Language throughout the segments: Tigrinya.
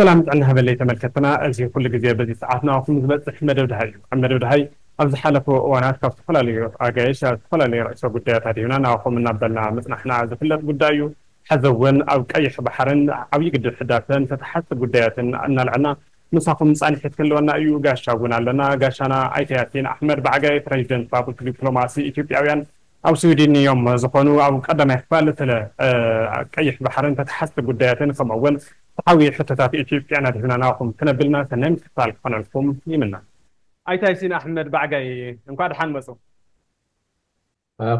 ሰላም ጥዕና ይሃበለይ ተመልከትትና እዚ ኩሉ ግዜ በዚ ሰዓት ንኣኹም ዝበጽሕ መደብ ደሃይ እዩ ኣብ መደብ ደሃይ ኣብ ዝሓለፉ እዋናት ካብ ዝተፈላለዩ ኣጋይሽ ኣብ ዝተፈላለየ ርእሰ ጉዳያት ኣድሂብና ንኣኹም እናበልና ምጽናሕና ዝፍለጥ ጉዳይ እዩ ሐዚ እውን ኣብ ቀይሕ ባሕርን ዓብይ ግድብ ሕዳሰን ተተሓዝቲ ጉዳያትን እናልዐልና ምሳኹም ጻንሒት ክህልወና እዩ ጋሻ እውን ኣለና ጋሻና ኣይተ ያሲን ኣሕመድ ባዕጋይ ፕረዚደንት ባቡል ዲፕሎማሲ ኢትዮጵያውያን ኣብ ስዊድን እዮም ዝኾኑ ኣብ ቀዳማይ ክፋል ስለ ቀይሕ ባሕርን ተተሓዝቲ ጉዳያትን ከምኡ እውን ፍትሓዊ ሕቶታት ኢትዮጵያን ኣድሂብና ናባኹም ክነብልና ሰናይ ምክትታል ክኾነልኩም ይምነ። ኣይተ ኣይሲን ኣሕመድ ባዕጋይ እንኳዕ ደሓን መፁ።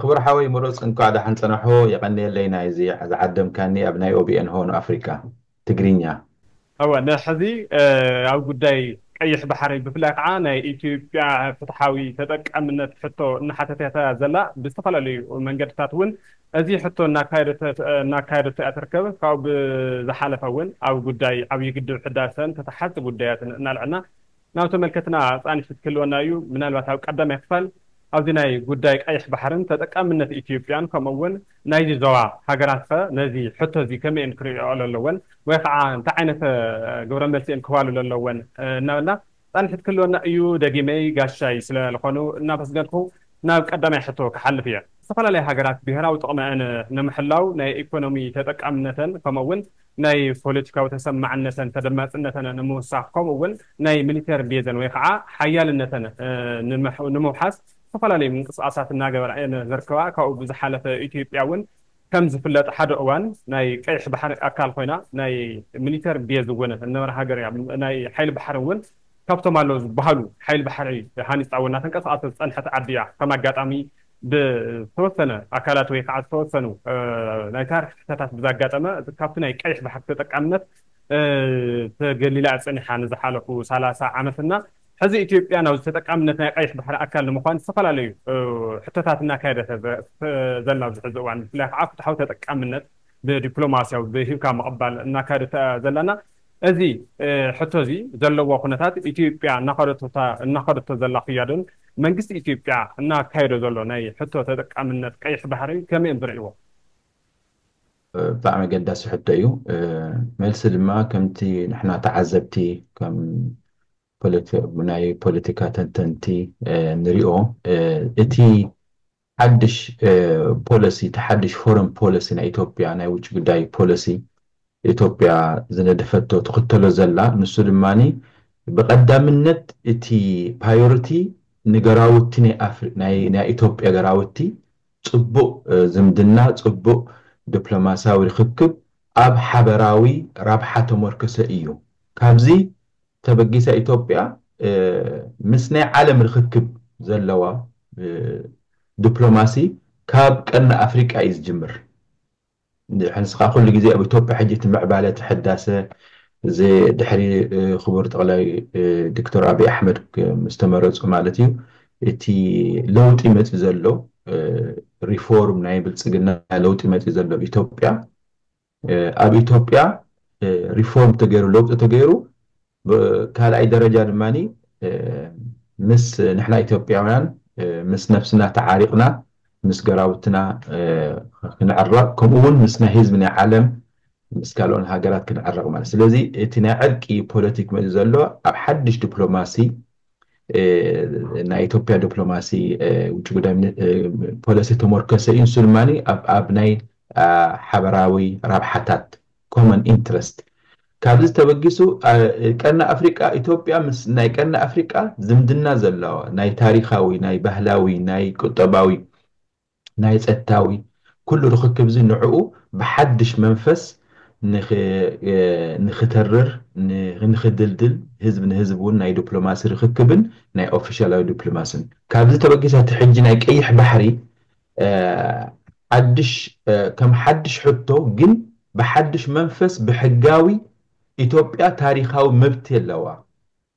ክቡር ሓወይ ምሩፅ እንኳዕ ዳሓን ፀናሑ የቀንየለይ ናይዚ ዝዓደምካኒ ኣብ ናይ OBN ሆርን ኣፍሪቃ። ትግርኛ። እወ ንሕዚ ኣብ ጉዳይ ቀይሕ ባሕሪ ብፍላይ ከዓ ናይ ኢትዮጵያ ፍትሓዊ ተጠቃምነት ሕቶ እናሓተተት'ያ ዘላ። ብዝተፈላለዩ መንገድታት እውን እዚ ሕቶ እናካየደቶ እያ ትርከብ። ካብኡ ብዝሓለፈ እውን ኣብ ጉዳይ ዓብዪ ግድብ ሕዳሰን ተተሓዝቲ ጉዳያትን እናልዐልና ናብ ተመልከትና ኣጻንሒት ክህልወና እዩ። ምናልባት ኣብ ቀዳማይ ክፋል ኣብዚ ናይ ጉዳይ ቀይሕ ባሕርን ተጠቃምነት ኢትዮጵያን ከምኡ እውን ናይዚ ዞባ ሃገራት ከ ነዚ ሕቶ እዚ ከመይ እየን ክርእይኦ ለለወን ወይ ከዓ እንታይ ዓይነት ግብረ መልሲ እየን ክህባሉ ለለወን እናበልና ጻንሒት ክህልወና እዩ። ደጊመይ ጋሻይ ስለ ልኾኑ እናመስገንኩ ናብ ቀዳማይ ሕቶ ክሓልፍ እየ። ዝተፈላለያ ሃገራት ብሄራዊ ጥቕመኣን ንምሕላው ናይ ኢኮኖሚ ተጠቃምነተን ከምኡ እውን ናይ ፖለቲካዊ ተሰማዕነተን ተደማጽነተን ንምውሳኽ ከምኡ እውን ናይ ሚሊተሪ ቤዘን ወይ ኸዓ ሓያልነተን ንምውሓስ ዝተፈላለዩ ምንቅስቓሳት እናገበራ እየን ዝርከባ። ካብኡ ብዝሓለፈ ኢትዮጵያ እውን ከም ዝፍለጥ ሓደ እዋን ናይ ቀይሕ ባሕሪ ኣካል ኮይና ናይ ሚሊተሪ ቤዝ እውን ዝነበራ ሃገር እያ። ናይ ሓይሊ ባሕሪ እውን ካብቶም ኣለዉ ዝበሃሉ ሓይሊ ባሕሪ ሃኒጻ እውን እናተንቀሳቐሰት ዝጸንሐት ዓዲ እያ። ከም ኣጋጣሚ ብዝተወሰነ ኣካላት ወይ ከዓ ዝተወሰኑ ናይ ታሪኽ ስሕተታት ብዛጋጠመ እቲ ካብቲ ናይ ቀይሕ ባሕሪ ተጠቃምነት ተገሊላ ፀኒሓ ንዝሓለፉ ሰላሳ ዓመት እና ሕዚ ኢትዮጵያ ናብዚ ተጠቃምነት ናይ ቀይሕ ባሕሪ ኣካል ንምኳን ዝተፈላለዩ ሕቶታት እናካየደተ ዘላ ኣብዚ ሕዚ እዋን ብፍላይ ከዓ ፍትሓዊ ተጠቃምነት ብዲፕሎማሲያዊ ብሂብካ ምቕባል እናካየደታ ዘላ እና እዚ ሕቶ እዚ ዘለዎ ኩነታት ኢትዮጵያ እናኸደቶ ዘላ ክያዶን መንግስቲ ኢትዮጵያ እናካየዶ ዘሎ ናይ ሕቶ ተጠቃምነት ቀይሕ ባሕርን ከመይ እዮም ዝርእይዎ? ብጣዕሚ ኣገዳሲ ሕቶ እዩ። መልሲ ድማ ከምቲ ንሕና ተዓዘብቲ ከም ናይ ፖለቲካ ተንተንቲ ንሪኦ እቲ ሓድሽ ፖለሲ እቲ ሓድሽ ፎረን ፖለሲ ናይ ኢትዮጵያ ናይ ውጪ ጉዳይ ፖለሲ ኢትዮጵያ ዝነደፈቶ ትኽተሎ ዘላ ንሱ ድማ ብቀዳምነት እቲ ፓዮሪቲ ንገራውቲ ናይ ኣፍሪ ናይ ናይ ኢትዮጵያ ገራውቲ ጽቡቅ ዝምድና ጽቡቅ ድፕሎማሲያዊ ርኽክብ ኣብ ሓበራዊ ራብሓ ተሞርከሰ ኢዩ ካብዚ ተበጊሳ ኢትዮጵያ ምስ ናይ ዓለም ርኽክብ ዘለዋ ድፕሎማሲ ካብ ቀርኒ ኣፍሪቃ እዩ ዝጅምር። ንስኻ ኩሉ ግዜ ኣብ ኢትዮጵያ ሕጂ እቲ ምዕባለ እቲ ሕዳሰ እዚ ድሕሪ ክቡር ጠቕላይ ዶክተር ኣብይ ኣሕመድ ምስ ተመረጹ ማለት እዩ እቲ ለውጢ መጺኡ ዘሎ ሪፎርም ናይ ብልጽግና ለውጢ መጺኡ ዘሎ ኣብ ኢትዮጵያ ኣብ ኢትዮጵያ ሪፎርም ተገይሩ ለውጢ ተገይሩ ካልኣይ ደረጃ ድማ ምስ ንሕና ኢትዮጵያውያን ምስ ነብስና ተዓሪቕና ምስ ገራውትና ክንዕረቕ ከምኡ ውን ምስ ናይ ህዝቢ ናይ ዓለም ምስ ካልኦን ሃገራት ክንዕረቕ ማለት ስለዚ እቲ ናይ ዕርቂ ፖለቲክ መፂኡ ዘሎ ኣብ ሓድሽ ዲፕሎማሲ ናይ ኢትዮጵያ ዲፕሎማሲ ውጭ ጉዳይ ፖሊሲ ተመርኮሰ እዩ ንሱ ድማ ኣብ ናይ ሓበራዊ ረብሓታት ኮመን ኢንትረስት ካብዚ ተበጊሱ ቀርኒ ኣፍሪቃ ኢትዮጵያ ምስ ናይ ቀርኒ ኣፍሪቃ ዝምድና ዘለዋ ናይ ታሪኻዊ ናይ ባህላዊ ናይ ቁጠባዊ ናይ ጸታዊ ኩሉ ርኽክብ'ዚ ንዕኡ ብሓድሽ መንፈስ ንክተርር ንክድልድል ህዝብ ንህዝብ እውን ናይ ዱፕሎማሲ ርኽክብን ናይ ኦፊሻላዊ ዱፕሎማስን ካብዚ ተበጊሳ እቲ ሕጂ ናይ ቀይሕ ባሕሪ ሓድሽ ከም ሓድሽ ሕቶ ግን ብሓድሽ መንፈስ ብሕጋዊ ኢትዮጵያ ታሪኻዊ መብቲ ኣለዋ።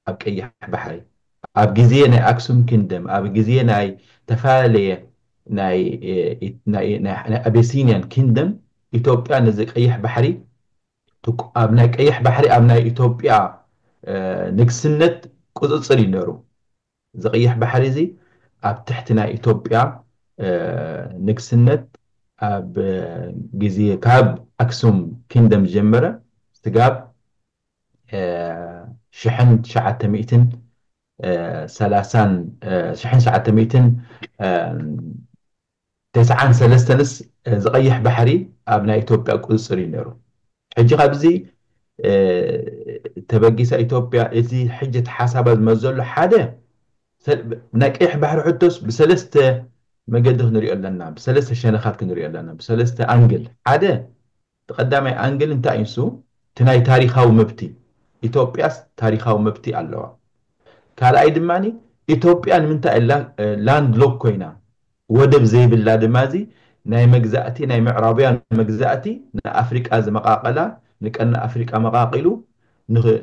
ኣብ ቀይሕ ባሕሪ ኣብ ግዜ ናይ ኣክሱም ኪንግደም ኣብ ግዜ ናይ ተፋለለየ ናይ ኣቤሲንያን ኪንግደም ኢትዮጵያ ነዚ ቀይሕ ባሕሪ ኣብ ናይ ቀይሕ ባሕሪ ኣብ ናይ ኢትዮጵያ ንግስነት ቁጽጽር እዩ ነሩ እዚ ቀይሕ ባሕሪ እዚ ኣብ ትሕቲ ናይ ኢትዮጵያ ንግስነት ኣብ ግዜ ካብ ኣክሱም ኪንግደም ዝጀመረ ስጋብ ሽሕን ትሽዓተ ሚእትን ሰላሳን ሽሕን ትሽዓተ ሚእትን ተስዓን ሰለስተንስ እዚ ቀይሕ ባሕሪ ኣብ ናይ ኢትዮጵያ ቁፅፅር እዩ ነይሩ። ሕጂ ካብዚ ተበጊሳ ኢትዮጵያ እዚ ሕጂ እቲ ሓሳባ ዝመዘሉ ሓደ ናይ ቀይሕ ባሕሪ ሕቶስ ብሰለስተ መገዲ ክንሪኦ ኣለና፣ ብሰለስተ ሸነኻት ክንሪኦ ኣለና፣ ብሰለስተ ኣንግል ሓደ እቲ ቀዳማይ ኣንግል እንታይ እዩ ንሱ እቲ ናይ ታሪኻዊ መብቲ ኢትዮጵያስ ታሪኻዊ መብቲ ኣለዋ ካልኣይ ድማ ኢትዮጵያ ንምንታይ እላ ላንድ ሎክ ኮይና ወደብ ዘይብላ ድማ እዚ ናይ መግዛእቲ ናይ ምዕራብውያን መግዛእቲ ንኣፍሪቃ ዝመቃቀላ ንቀርኒ ኣፍሪቃ መቃቂሉ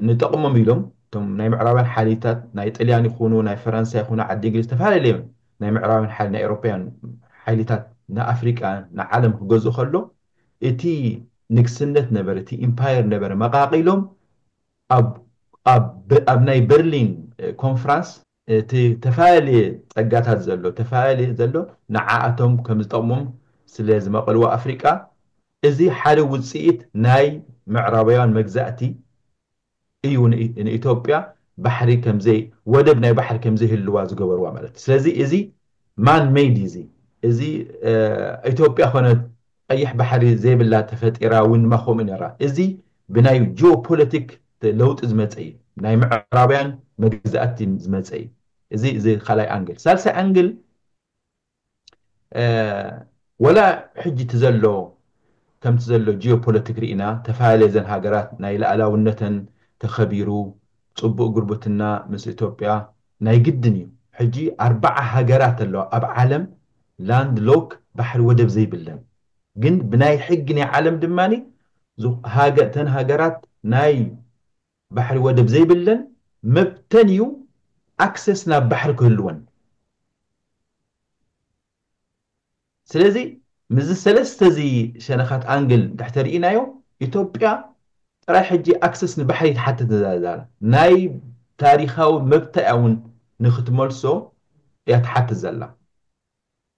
ንጠቅሞም ኢሎም እቶም ናይ ምዕራብውያን ሓይሊታት ናይ ጥልያን ይኹኑ ናይ ፈረንሳ ይኹኑ ዓዲ እንግሊዝ ዝተፈላለየ ናይ ምዕራብውያን ሓይሊ ናይ ኤሮፓውያን ሓይሊታት ንኣፍሪቃ ንዓለም ክገዝኡ ከሎ እቲ ንግስነት ነበረ፣ እቲ ኢምፓየር ነበረ መቓቒሎም ኣብ ኣብ ኣብ ናይ በርሊን ኮንፍራንስ እቲ ተፈላለየ ጸጋታት ዘሎ ተፈላለየ ዘሎ ንዓኣቶም ከም ዝጠቕሞም ስለ ዝመቐልዎ ኣፍሪቃ እዚ ሓደ ውጽኢት ናይ ምዕራባውያን መግዛእቲ እዩ ንኢትዮጵያ ባሕሪ ከምዘይ ወደብ ናይ ባሕሪ ከምዘይህልዋ ዝገበርዋ ማለት እዩ ስለዚ እዚ ማን መይድ እዩ እዚ እዚ ኢትዮጵያ ኮነት ቐይሕ ባሕሪ ዘይብላ ተፈጢራ እውን ድማ ከምኡ ነራ እዚ ብናይ ጂኦ ፖለቲክ ለውጢ ዝመፀ እዩ ናይ ምዕራብያን መግዛእቲ ዝመፀ እዩ እዚ እዚ ካልኣይ ኣንግል ሳልሳይ ኣንግል ወላ ሕጂ እቲ ዘሎ ከምቲ ዘሎ ጂኦ ፖለቲክ ሪኢና ተፋልለ እዘን ሃገራት ናይ ልኣላውነተን ተኸቢሩ ጽቡቅ ጉርብትና ምስ ኢትዮጵያ ናይ ግድን እዩ ሕጂ ኣርባዓ ሃገራት ኣለዋ ኣብ ዓለም ላንድ ሎክ ባሕሪ ወደብ ዘይብለን ግን ብናይ ሕጊ ናይ ዓለም ድማ እተን ሃገራት ናይ ባሕሪ ወደብ ዘይብለን መብተን እዩ ኣክሰስ ናብ ባሕሪ ክህልወን ስለዚ ምስዚ ሰለስተ እዚ ሸነኻት ኣንግል እንድሕር ተሪኢናዮ ኢትዮጵያ ጥራይ ሕጂ ኣክሰስ ንባሕሪ ትሓትት ነዛ ዛላ ናይ ታሪኻዊ መብታ እያ እውን ንክትመልሶ እያ ትሓትት ዘላ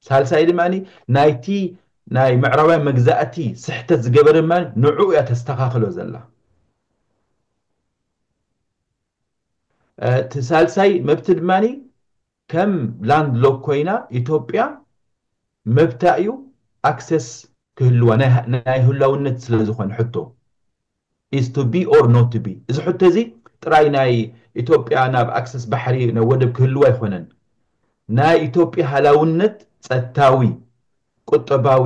ሳልሳይ ድማ ናይቲ ናይ ምዕራባውያን መግዛእቲ ስሕተት ዝገበረ ድማ ንዕኡ እያ ተስተኻኽሎ ዘላ። እቲ ሳልሳይ መብቲ ድማ ከም ላንድ ሎክ ኮይና ኢትዮጵያ መብታ እዩ ኣክሰስ ክህልዋ ናይ ህላውነት ስለዝኾነ ሕቶ is to be or not to be እዚ ሕቶ እዚ ጥራይ ናይ ኢትዮጵያ ናብ ኣክሰስ ባሕሪ ናብ ወደብ ክህልዋ ኣይኾነን ናይ ኢትዮጵያ ሃላውነት ጸታዊ ቁጠባዊ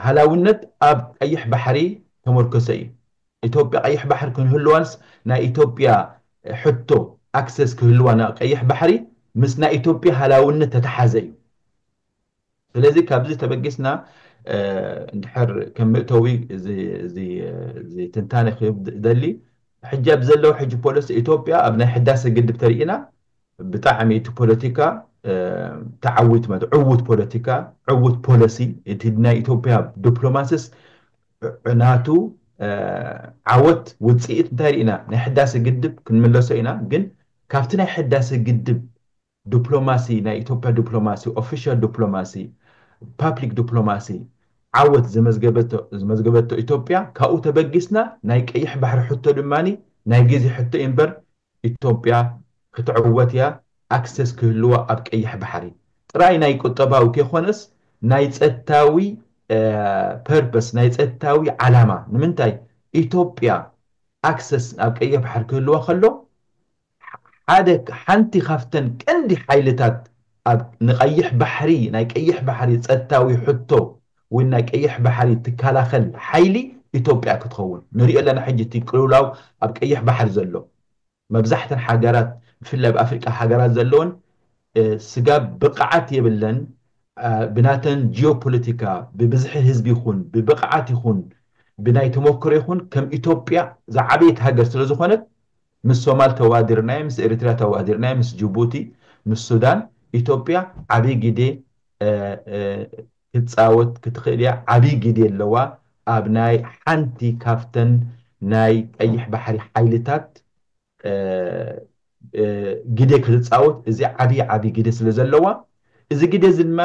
ሃላውነት ኣብ ቀይሕ ባሕሪ ተመርኮሰ እዩ ኢትዮጵያ ቀይሕ ባሕሪ ክንህልዋንስ ናይ ኢትዮጵያ ሕቶ ኣክሰስ ክህልዋ ናብ ቀይሕ ባሕሪ ምስ ናይ ኢትዮጵያ ሃላውነት ተተሓዘ እዩ ስለዚ ካብዚ ተበጊስና እንድሕር ከም ምእተዊ እዚ ትንታነ ክህብ ዝደሊ ሕጂ ኣብ ዘሎ ሕጂ ፖለሲ ኢትዮጵያ ኣብ ናይ ሕዳሰ ግድብ ተሪኢና ብጣዕሚ እቲ ፖለቲካ ተዓዊት ማለት ዕውት ፖለቲካ ዕውት ፖለሲ እቲ ናይ ኢትዮጵያ ዲፕሎማሲስ ናቱ ዓወት ውፅኢት እንታይ ሪኢና ናይ ሕዳሰ ግድብ ክንምለሶ ኢና ግን ካብቲ ናይ ሕዳሰ ግድብ ዱፕሎማሲ ናይ ኢትዮጵያ ዱፕሎማሲ ኦፊሻል ዱፕሎማሲ ፓፕሊክ ዱፕሎማሲ ዓወት ዘመዝገበቶ ኢትዮጵያ ካብኡ ተበጊስና ናይ ቀይሕ ባሕሪ ሕቶ ድማ ናይ ጊዜ ሕቶ እዩ እምበር ኢትዮጵያ ክትዕወት እያ ኣክሰስ ክህልዋ ኣብ ቀይሕ ባሕሪ ጥራይ ናይ ቁጠባዊ ከይኮነስ ናይ ፀጥታዊ ፐርፐስ ናይ ፀጥታዊ ዓላማ ንምንታይ ኢትዮጵያ ኣክሰስ ኣብ ቀይሕ ባሕሪ ክህልዋ ከሎ ሓደ ሓንቲ ካብተን ቀንዲ ሓይልታት ኣብ ንቀይሕ ባሕሪ ናይ ቀይሕ ባሕሪ ጸጥታዊ ሕቶ ወይ ናይ ቀይሕ ባሕሪ ትካላኸል ሓይሊ ኢትዮጵያ ክትኸውን ንሪኦ ኣለና ሕጂ እቲ ቅልውላው ኣብ ቀይሕ ባሕሪ ዘሎ መብዛሕተን ሓገራት ብፍላይ ኣብ ኣፍሪቃ ሃገራት ዘለወን ስጋብ ብቅዓት የብለን ብናተን ጂኦ ፖለቲካ ብብዝሒ ህዝቢ ይኹን ብብቅዓት ይኹን ብናይ ተሞክሮ ይኹን ከም ኢትዮጵያ ዝዓበየት ሃገር ስለዝኾነት ምስ ሶማል ተዋዲርናዮ ምስ ኤሪትሪያ ተዋዲርናዮ ምስ ጁቡቲ ምስ ሱዳን ኢትዮጵያ ዓቢ ጊዴ ክትጻወት ክትኽእል ኢያ ዓቢ ጊዴ ኣለዋ ኣብ ናይ ሓንቲ ካብተን ናይ ቀይሕ ባሕሪ ሓይልታት ጊዴ ክትጻወት እዚ ዓቢ ዓቢ ጊዴ ስለ ዘለዋ እዚ ጊዴ እዚ ድማ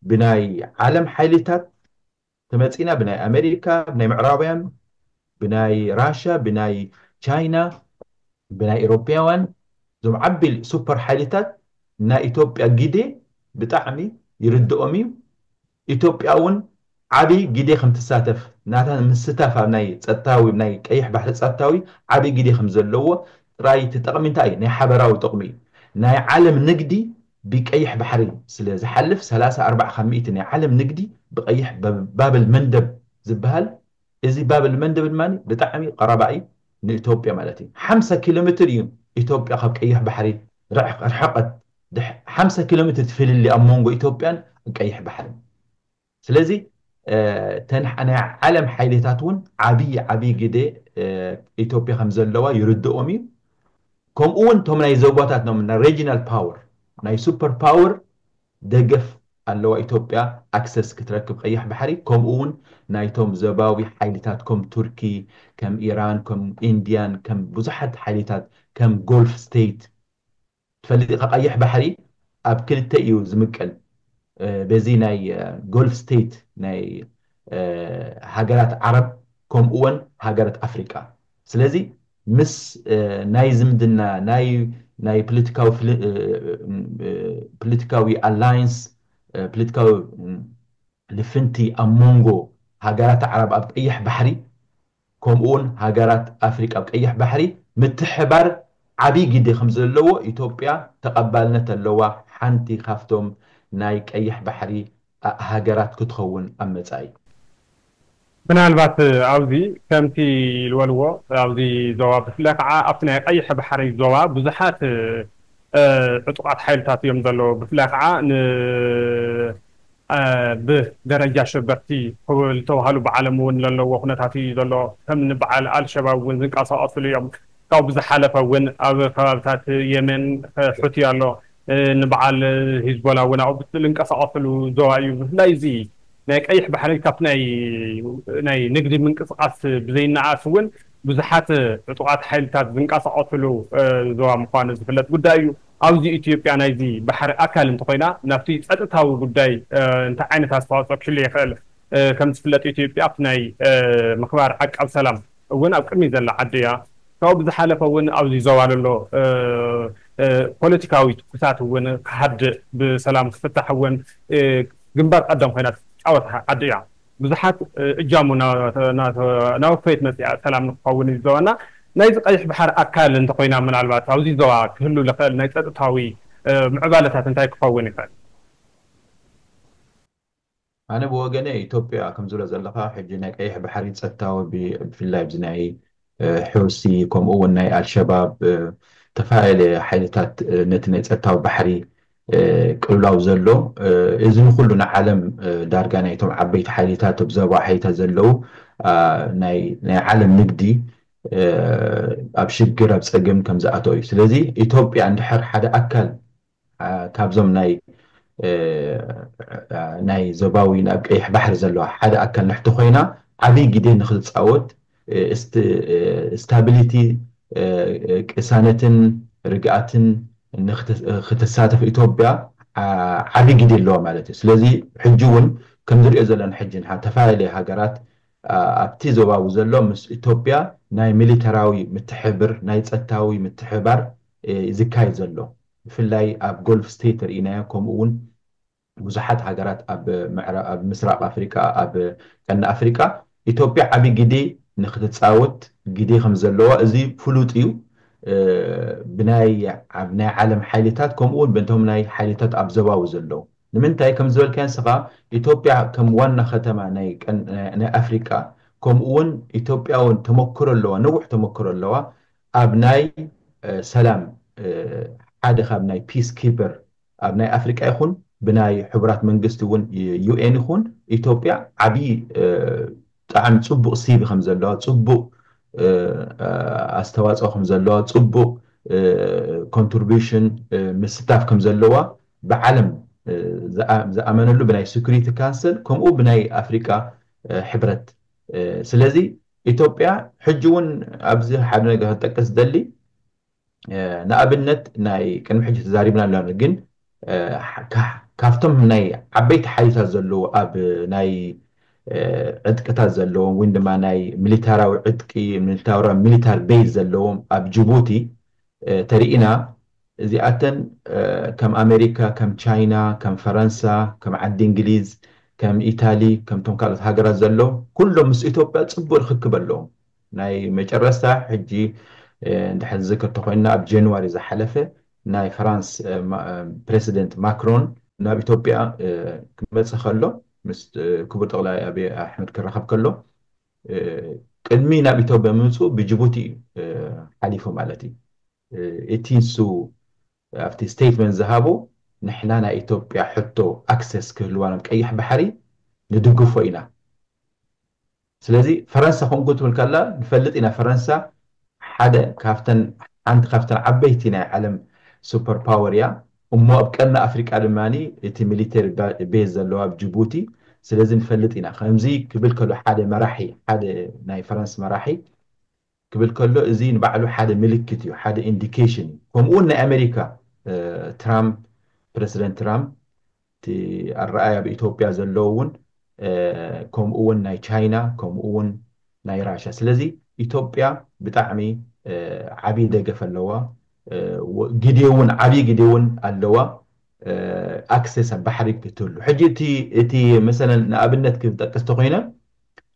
ብናይ ዓለም ሓይልታት ተመጺና ብናይ ኣመሪካ ብናይ ምዕራባውያን ብናይ ራሻ ብናይ ቻይና ብናይ ኤሮፓውያን እዞም ዓቢ ሱፐር ሓይልታት ናይ ኢትዮጵያ ግዴ ብጣዕሚ ይርድኦም እዩ ኢትዮጵያ ውን ዓቢ ግዴ ከም ትሳተፍ ናታ ምስታፍ ኣብ ናይ ጸጥታዊ ናይ ቀይሕ ባሕሪ ጸጥታዊ ዓቢ ግዴ ከም ዘለዎ ጥራይ ተጠቅሚንታይ ናይ ሓበራዊ ጥቅሚ ናይ ዓለም ንግዲ ብቀይሕ ባሕሪ ስለ ዝሓልፍ ሰላሳ ኣርባዓ ካብ ሚእቲ ናይ ዓለም ንግዲ ብቀይሕ ባብል መንደብ ዝብሃል እዚ ባብል መንደብ ድማ ብጣዕሚ ቀረባ እዪ ንእቶጵያ ማለት እዪ ሓምሳ ኪሎምትር እዪ እቶጵያ ካብ ቀይሕ ባሕሪ ርሕቀት ሓምሳ ኪሎምትር እቲ ፍልልይ ኣብ ሞንጎ እቶጵያን ቀይሕ ባሕርን ስለዚ እተን ናይ ዓለም ሓይሊታት እውን ዓብዪ ዓብዪ ግደ ኢትዮጵያ ከም ዘለዋ ይርድኦም እዩ። ከምኡ እውን እቶም ናይ ዞባታት ኖም ናይ ሬጂናል ፓወር ናይ ሱፐር ፓወር ደገፍ ኣለዋ ኢትዮጵያ ኣክሰስ ክትረክብ ቀይሕ ባሕሪ ከምኡ እውን ናይቶም ዘባዊ ሓይሊታት ከም ቱርኪ ከም ኢራን ከም ኢንድያን ከም ብዙሓት ሓይሊታት ከም ጎልፍ ስተይት ትፈልጥ ኢካ ቀይሕ ባሕሪ ኣብ ክልተ እዩ ዝምቀል በዚ ናይ ጎልፍ ስተይት ናይ ሃገራት ዓረብ ከምኡ ወን ሃገረት ኣፍሪቃ ስለዚ ምስ ናይ ዝምድና ናይ ናይ ፕልትካዊ ፕልትካዊ ኣላይንስ ፕልትካዊ ልፍንቲ ኣብ ሞንጎ ሃገራት ዓረብ ኣብ ቀይሕ ባሕሪ ከምኡውን ሃገራት ኣፍሪቃ ኣብ ቀይሕ ባሕሪ ምትሕባር ዓብይ ግደ ከምዘለዎ ኢትዮጵያ ተቐባልነት ኣለዋ ሓንቲ ካብቶም ናይ ቀይሕ ባሕሪ ሃገራት ክትኸውን ኣብ መጻኢ። ምናልባት ኣብዚ ከምቲ ልበልዎ ኣብዚ ዞባ ብፍላይ ከዓ ኣብቲ ናይ ቀይሕ ባሕሪ ዞባ ብዙሓት ዕጡቓት ሓይልታት እዮም ዘለዉ ብፍላይ ከዓ ን ብ ደረጃ ሸበርቲ ክብ ልተባህሉ ብዓለም እውን ለለዎ ኩነታት እዩ ዘሎ። ከም ን ብዓል ኣልሸባብ እውን ዝንቀሳቀሱሉ እዮም። ካብኡ ብዝሓለፈ እውን ኣብ ከባብታት የመን ሑቲ ኣሎ። ን ብዓል ሂዝቦላ እውን ኣብኡ ዝልንቀሳቀሱሉ ዞባ እዩ። ብፍላይ እዚ ናይ ቀይሕ ባሕሪ ካብቲ ናይ ናይ ንግዲ ምንቅስቃስ ብዘይነኣኣስ እውን ብዙሓት ዕጡቃት ሓይልታት ዝንቀሳቀሱሉ ዞባ ምኳኑ ዝፍለጥ ጉዳይ እዩ። ኣብዚ ኢትዮጵያ ናይዚ ባሕሪ ኣካል እንተኾይና ናብቲ ጸጥታዊ ጉዳይ እንታይ ዓይነት ኣስተዋጽኦ ክህሉ ይኽእል? ከም ዝፍለጥ ኢትዮጵያ ኣብቲ ናይ ምኽባር ዓቃብ ሰላም እውን ኣብ ቅድሚት ዘላ ዓዲ እያ። ካብኡ ብዝሓለፈ እውን ኣብዚ ዞባ ለሎ ፖለቲካዊ ትኩሳት እውን ክሃድእ ብሰላም ክፍታሕ እውን ግንባር ቀደም ኮይና ትጻወት ዓዲ እያ። ብዙሓት እጃሙ እናወፈየት መፂኣ ሰላም ንክኸውን እዚ ዞባና ናይዚ ቀይሕ ባሕር ኣካል እንተኾይና ምናልባት ኣብዚ ዞባ ክህሉ ልኽእል ናይ ፀጥታዊ ምዕባለታት እንታይ ክኸውን ይኽእል? ኣነ ብወገነይ ኢትዮጵያ ከምዝብለ ዘለኻ ሕጂ ናይ ቀይሕ ባሕሪ ፀጥታዊ ብፍላይ ኣብዚ ናይ ሑሲ ከምኡ እውን ናይ ኣልሸባብ ዝተፈላለዩ ሓይልታት ነቲ ናይ ፀጥታዊ ባሕሪ ቅልውላው ዘሎ እዚ ንኩሉ ንዓለም ዳርጋ ናይቶም ዓበይቲ ሓይሊታት ኣብ ዞባ ሓይታ ዘለው ናይ ዓለም ንግዲ ኣብ ሽግር ኣብ ፀገም ከምዝኣተወ እዩ። ስለዚ ኢትዮጵያ እንድሕር ሓደ ኣካል ካብዞም ናይ ናይ ዞባዊ ናብ ቀይሕ ባሕሪ ዘለዋ ሓደ ኣካል ንሕቲ ኮይና ዓብይ ግደ ንክትፃወት ስታቢሊቲ ቅሳነትን ርግኣትን ንክትሳተፍ ኢትዮጵያ ዓብይ ግደ ኣለዋ ማለት እዩ። ስለዚ ሕጂ እውን ከምዝሪኦ ዘለና ሕጂ ተፈላለየ ሃገራት ኣብቲ ዞባዊ ዘሎ ምስ ኢትዮጵያ ናይ ሚሊተራዊ ምትሕብር ናይ ፀጥታዊ ምትሕብባር ዝካየድ ዘሎ ብፍላይ ኣብ ጎልፍ ስተይት ርኢናዮ ከምኡ ውን ብዙሓት ሃገራት ኣብ ኣብ ምስራቅ ኣፍሪቃ ኣብ ቀርኒ ኣፍሪቃ ኢትዮጵያ ዓቢ ግዴ ንክትጻወት ግዴ ከምዘለዋ እዚ ፍሉጥ እዩ ብናይ ኣብ ናይ ዓለም ሓይልታት ከምኡ ውን በቶም ናይ ሓይልታት ኣብ ዘባዊ ዘለዉ ንምንታይ ከምዝበልካዮ ንስኻ ኢትዮጵያ ከም ዋና ከተማ ናይ ናይ ኣፍሪቃ ከምኡ ውን ኢትዮጵያ ውን ተመክሮ ኣለዋ ነዊሕ ተመክሮ ኣለዋ ኣብ ናይ ሰላም ሓደ ካብ ናይ ፒስ ኪፐር ኣብ ናይ ኣፍሪቃ ይኹን ብናይ ሕቡራት መንግስቲ እውን UN ይኹን ኢትዮጵያ ዓብይ ብጣዕሚ ፅቡቅ ሲቪ ከም ዘለዋ ፅቡቅ ኣስተዋፅኦ ከም ዘለዋ ፅቡቅ ኮንትርቢሽን ምስታፍ ከም ዘለዋ ብዓለም ዝኣመነሉ ብናይ ስኩሪቲ ካንስል ከምኡ ብናይ ኣፍሪቃ ሕብረት ስለዚ ኢትዮጵያ ሕጂ እውን ኣብዚ ሓደ ነገር ክጠቅስ ዝደሊ ንኣብነት ናይ ቅድሚ ሕጂ ተዛሪብና ኣሎና ግን ካብቶም ናይ ዓበይቲ ሓይልታት ዘለዉ ኣብ ናይ ዕጥቅታት ዘለዎም ወይ ድማ ናይ ሚሊታራዊ ዕጥቂ ሚሊታራ ሚሊታር ቤዝ ዘለዎም ኣብ ጅቡቲ ተሪኢና እዚኣተን ከም ኣመሪካ፣ ከም ቻይና፣ ከም ፈረንሳ፣ ከም ዓዲ እንግሊዝ፣ ከም ኢታሊ፣ ከምቶም ካልኦት ሃገራት ዘሎ ኩሎም ምስ ኢትዮጵያ ጽቡቕ ርኽክብ ኣለዎም። ናይ መጨረስታ ሕጂ እንድሕር ንዝክር ተኾይንና ኣብ ጀንዋሪ ዝሓለፈ ናይ ፍራንስ ፕረሲደንት ማክሮን፣ ናብ ኢትዮጵያ ክመጽእ ከሎ ምስ ክቡር ጠቕላይ ኣቢይ ኣሕመድ ክራኸብ ከሎ ቅድሚ ናብ ኢትዮጵያ ምምጽኡ ብጅቡቲ እዩ ሓሊፉ ማለት እዩ። እቲ ንሱ ኣብቲ ስቴትመንት ዝሃቦ ንሕና ናይ ኢትዮጵያ ሕቶ ኣክሰስ ክህልዋና ብ ቀይሕ ባሕሪ ንድግፎ ኢና ስለዚ ፈረንሳ ከምኡ ክትብል ከላ ንፈልጥ ኢና ፈረንሳ ሓደ ካብተን ሓንቲ ካብተን ዓበይቲ ናይ ዓለም ሱፐር ፓወር እያ እሞ ኣብ ቀርኒ ኣፍሪቃ ድማ እቲ ሚሊተሪ ቤዝ ዘለዋ ኣብ ጅቡቲ ስለዚ ንፈልጥ ኢና ከምዚ ክብል ከሎ ሓደ መራሒ ሓደ ናይ ፈረንስ መራሒ ክብል ከሎ እዚ ንባዕሉ ሓደ ምልክት እዩ ሓደ ኢንዲኬሽን እዩ ከምኡ ውን ናይ ኣመሪካ ትራምፕ ፕረሲደንት ትራምፕ እቲ ኣረኣይ ኣብ ኢትዮጵያ ዘለዎ ውን ከምኡ ውን ናይ ቻይና ከምኡ ውን ናይ ራሻ ስለዚ ኢትዮጵያ ብጣዕሚ ዓብይ ደገፍ ኣለዋ ግዴ ውን ዓብይ ግዴ ውን ኣለዋ ኣክሰስ ኣብ ባሕሪ ክትህሉ ሕጂ እቲ እቲ መሰለን ንኣብነት ክጠቅስ ተኾይነ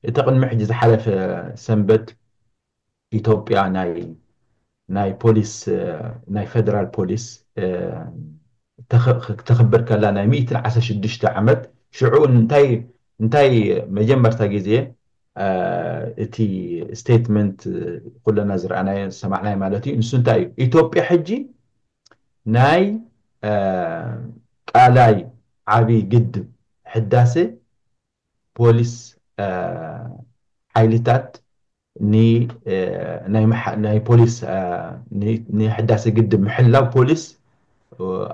እቲ ቅድሚ ሕጂ ዝሓለፈ ሰንበት ኢትዮጵያ ናይ ናይ ፖሊስ ናይ ፈደራል ፖሊስ ክተኽብር ከላ ናይ ሚእትን ዓሰርተ ሽዱሽተ ዓመት ሽዑ እንታይ እንታይ መጀመርታ ግዜ እቲ ስቴትመንት ኩለና ዝረኣናዮ ዝሰማዕናዮ ማለት እዩ ንሱ እንታይ እዩ ኢትዮጵያ ሕጂ ናይ ቃላይ ዓብይ ግድብ ሕዳሴ ፖሊስ ሓይሊታት ንናይ ፖሊስ ንሕዳሰ ግድብ ምሕላው ፖሊስ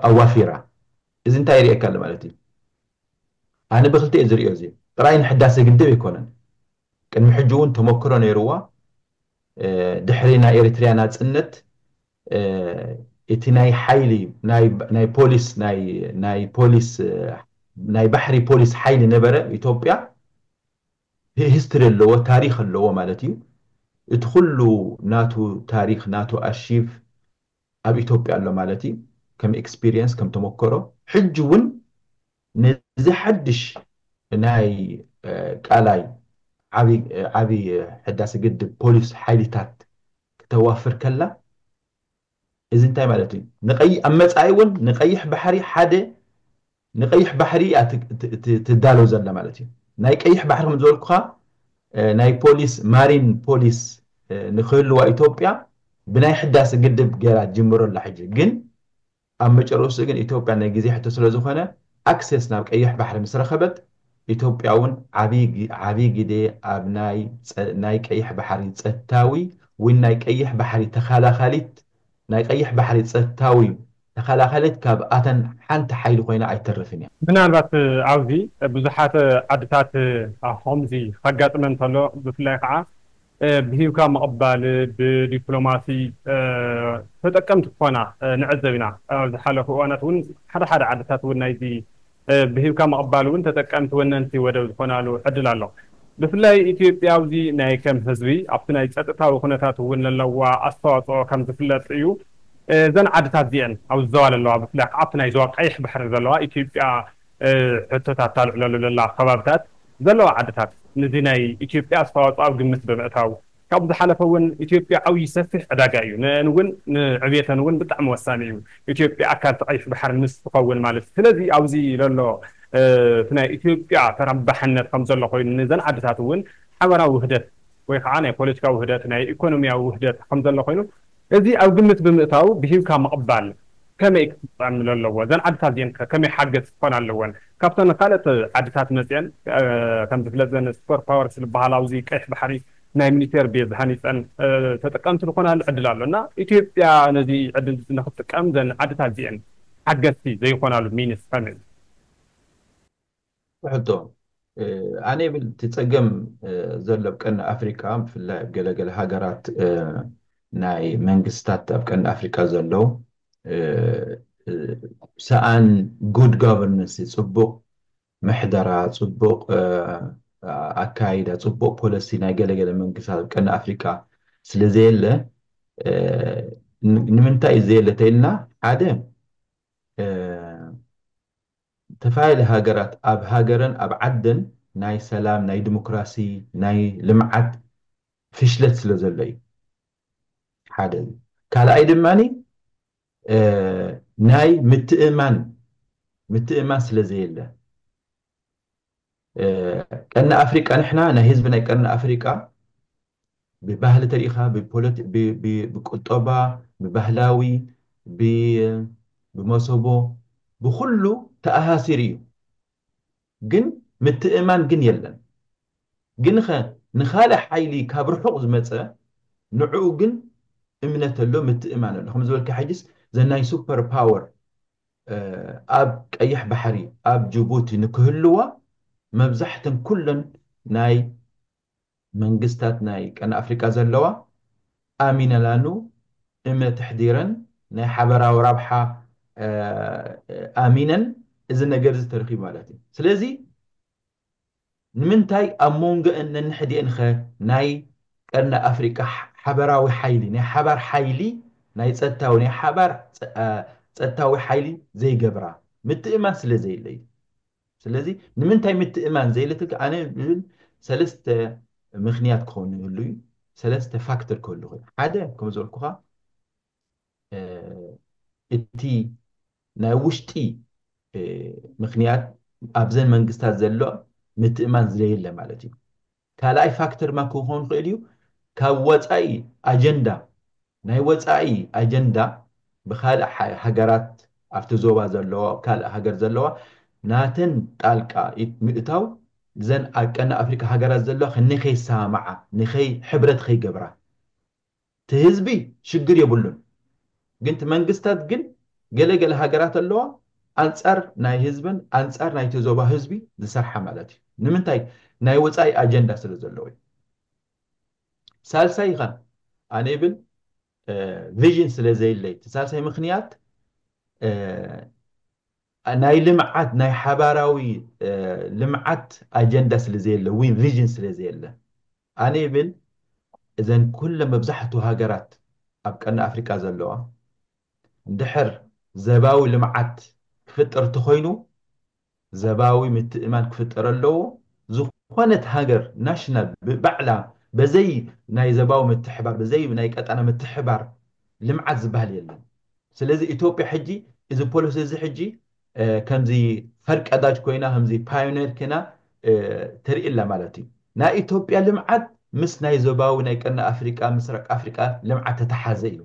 ኣዋፊራ እዚ እንታይ የርእየካ ኣሎ ማለት እዩ ኣነ ብክልተ እየ ዝርእዮ እዚ ጥራይ ንሕዳሰ ግድብ ኣይኮነን ቅድሚ ሕጂ እውን ተመክሮ ነይርዋ ድሕሪ ናይ ኤሪትሪያ ናጽነት እቲ ናይ ሓይሊ ናይ ፖሊስ ናይ ፖሊስ ናይ ባሕሪ ፖሊስ ሓይሊ ነበረ ኢትዮጵያ ሂስትሪ ኣለዎ ታሪኽ ኣለዎ ማለት እዩ እቲ ኩሉ ናቱ ታሪኽ ናቱ ኣርሺቭ ኣብ ኢትዮጵያ ኣሎ ማለት እዩ ከም ኤክስፒርየንስ ከም ተሞከሮ ሕጂ ውን ነዚ ሓድሽ ናይ ቃላይ ዓቢ ሕዳሰ ግድብ ፖሊስ ሓይሊታት ክተዋፍር ከላ እዚ እንታይ ማለት እዩ ንቀይ ኣብ መጻኢ ውን ንቀይሕ ባሕሪ ሓደ ንቀይሕ ባሕሪ እያ ትዳሎ ዘላ ማለት እዩ ናይ ቀይሕ ባሕሪ ከም ዝበልኩኻ ናይ ፖሊስ ማሪን ፖሊስ ንክህልዋ ኢትዮጵያ ብናይ ሕዳሰ ግድብ ገይራ ትጅምሮ ኣላ ሕጂ ግን ኣብ መጨረስትኡ ግን ኢትዮጵያ ናይ ግዜ ሕቶ ስለዝኾነ ኣክሰስ ናብ ቀይሕ ባሕሪ ምስ ረኸበት ኢትዮጵያውን ዓብይ ግደ ኣብ ናይ ቀይሕ ባሕሪ ፀታዊ ዊን ናይ ቀይሕ ባሕሪ ተኸላኻሊት ናይ ቀይሕ ባሕሪ ፀታዊ ተኸላኻሊት ካብኣተን ሓንቲ ሓይሊ ኮይና ኣይትተርፍን እያ። ምናልባት ኣብዚ ብዙሓት ዓድታት ኾምዚ ከጋጥመን ተሎ ብፍላይ ኻዓ ብሂብካ ምቕባል ብዲፕሎማሲ ተጠቀምቲ ክኾና ንዕዘብ ኢና። ኣብ ዝሓለፉ እዋናት እውን ሓደ ሓደ ዓድታት እውን ናይዚ ብሂብካ ምቕባል እውን ተጠቀምቲ ወነንቲ ወደብ ዝኾናሉ ዕድል ኣሎ። ብፍላይ ኢትዮጵያ ኣብዚ ናይ ከም ህዝቢ ኣብቲ ናይ ፀጥታዊ ኩነታት እውን ለለዋ ኣስተዋፅኦ ከም ዝፍለጥ እዩ። እዘን ዓድታት እዚኤን ኣብዚ ዞባ ለለዋ ብፍላይ ከዓ ኣብቲ ናይ ዞባ ቀይሕ ባሕሪ ዘለዋ ኢትዮጵያ ሕቶታት ታልዕለሉ ዘላ ከባብታት ዘለዋ ዓድታት ንዚ ናይ ኢትዮጵያ ኣስተዋፅኦ ኣብ ግምት ብምእታው፣ ካብኡ ዝሓለፈ እውን ኢትዮጵያ ዓብዪ ሰፊሕ ዕዳጋ እዩ፣ ንእን እውን ንዕብየተን እውን ብጣዕሚ ወሳኒ እዩ፣ ኢትዮጵያ ኣካል እቲ ቀይሕ ባሕሪ ምስ ትኸውን ማለት እዩ፣ ስለዚ ኣብዚ ለሎ እቲ ናይ ኢትዮጵያ ተረባሕነት ከምዘሎ ኮይኑ ንዘን ዓድታት እውን ሓበራዊ ውህደት ወይ ከዓ ናይ ፖለቲካዊ ውህደት ናይ ኢኮኖሚያዊ ውህደት ከምዘሎ ኮይኑ እዚ ኣብ ግምት ብምእታው ብሂብካ ምቕባል ከመይ ክጸኣምሎ ኣለዎ? እዘን ዓድታት እዚኤን ከ ከመይ ሓገዝቲ ክኾና ኣለወን? ካብተን ካልኦት ዓድታት መጺኤን ከም ዝፍለጥ እዘን ስፐር ፓወርስ ዝበሃላ ኣብዚ ቀይሕ ባሕሪ ናይ ሚሊቴር ቤዝ ሃኒጸን ተጠቀምቲ ዝኾናሉ ዕድል ኣሎ እና ኢትዮጵያ ነዚ ዕድል እዚ ንኽትጥቀም እዘን ዓድታት እዚኤን ሓገዝቲ ዘይኾናሉ ምይንስ ከመይ? ሕቶ፣ ኣነ ይብል እቲ ፀገም ዘሎ ኣብ ቀርኒ ኣፍሪካ ብፍላይ ኣብ ገለ ገለ ሃገራት ናይ መንግስታት ኣብ ቀርኒ ኣፍሪካ ዘሎ ሰኣን ጉድ ጋቨርነንስ ፅቡቕ ምሕደራ ፅቡቕ ኣካይዳ ፅቡቕ ፖለሲ ናይ ገለ ገለ መንግስታት ኣብ ቀርኒ ኣፍሪካ ስለ ዘየለ ንምንታይ እዩ ዘየለ ተኢልና ሓደ ዝተፈላለያ ሃገራት ኣብ ሃገረን ኣብ ዓደን ናይ ሰላም ናይ ድምክራሲ ናይ ልምዓት ፍሽለት ስለ ዘሎ እዩ ሓደ እዩ ካልኣይ ድማ ናይ ምትእምማን ምትእምማን ስለ ዘየለ ቀርኒ ኣፍሪቃ ንሕና ናይ ህዝቢ ናይ ቀርኒ ኣፍሪቃ ብባህሊ ተሪኢኻ ብቁጠባ ብባህላዊ ብመሰቦ ብኹሉ ተኣሳሲሩ እዩ ግን ምትእምማን ግን የለን ግንኸ ንኻልእ ሓይሊ ካብ ርሑቕ ዝመጸ ንዕኡ ግን እምነት ኣሎ ምትእምማን ኣሎ ከምዝበልካ ሕጅስ ዘናይ ሱፐር ፓወር ኣብ ቀይሕ ባሕሪ ኣብ ጅቡቲ ንክህልዋ መብዛሕተን ኩለን ናይ መንግስታት ናይ ቀርኒ ኣፍሪቃ ዘለዋ ኣሚነላኑ እመ ተሕዲረን ናይ ሓበራዊ ራብሓ ኣሚነን እዚ ነገር እዚ ተረኪቡ ማለት እዩ ስለዚ ንምንታይ ኣብ ሞንገእን ነንሕድኤንኸ ናይ ቀርኒ ኣፍሪቃ ሓበራዊ ሓይሊ፣ ናይ ሓባር ሓይሊ፣ ናይ ጸጥታዊ፣ ናይ ሓባር ጸጥታዊ ሓይሊ ዘይገብራ? ምትእምማን ስለ ዘየለ እዩ። ስለዚ ንምንታይ ምትእምማን ዘየለትልካ ኣነ ዝብል ሰለስተ ምክንያት ክኸውን ይህሉ እዩ፣ ሰለስተ ፋክተር ክህሉ ይኽእል እዩ። ሓደ ከም ዝበልኩኻ፣ እቲ ናይ ውሽጢ ምክንያት ኣብዘን መንግስታት ዘሎ ምትእማን ዝለየለ ማለት እዩ። ካልኣይ ፋክተር ማ ክኾን ይኽእል እዩ ካብ ወፃኢ ኣጀንዳ ናይ ወፃኢ ኣጀንዳ ብካልእ ሃገራት ኣብቲ ዞባ ዘለዋ ኣብ ካልእ ሃገር ዘለዋ ናተን ጣልቃ ኢድ ምእታው ዘን ኣብ ቀርኒ ኣፍሪቃ ሃገራት ዘለዋ ንከይሰማማዓ ንከይ ሕብረት ከይገብራ እቲ ህዝቢ ሽግር የብሉን ግን እቲ መንግስታት ግን ገለ ገለ ሃገራት ኣለዋ ኣንጻር ናይ ህዝበን ኣንጻር ናይቲ ዞባ ህዝቢ ዝሰርሓ ማለት እዩ ንምንታይ ናይ ወጻኢ ኣጀንዳ ስለ ዘለዎ እዩ ሳልሳይ ከ ኣነ ይብል ቪዥን ስለ ዘይለይ እቲ ሳልሳይ ምክንያት ናይ ልምዓት ናይ ሓባራዊ ልምዓት ኣጀንዳ ስለ ዘየለ ወይ ቪዥን ስለ ዘየለ ኣነ ይብል እዘን ኩለን መብዛሕቱ ሃገራት ኣብ ቀርኒ ኣፍሪቃ ዘለዋ እንድሕር ዘባዊ ልምዓት ክፍጠር ተኾይኑ ዘባዊ ምትእምማን ክፍጠር ኣለዎ ዝኾነት ሃገር ናሽናል ብባዕላ በዘይ ናይ ዘባዊ ምትሕባር በዘይ ናይ ቀጣና ምትሕባር ልምዓት ዝባሃል የለን ስለዚ ኢትዮጵያ ሕጂ እዚ ፖለሲ እዚ ሕጂ ከምዚ ፈርቀዳጅ ኮይና ከምዚ ፓዮኔር ኮይና ትርኢ ኣላ ማለት እዩ። ናይ ኢትዮጵያ ልምዓት ምስ ናይ ዞባዊ ናይ ቀርኒ ኣፍሪቃ ምስራቅ ኣፍሪቃ ልምዓት ተተሓዘ እዩ።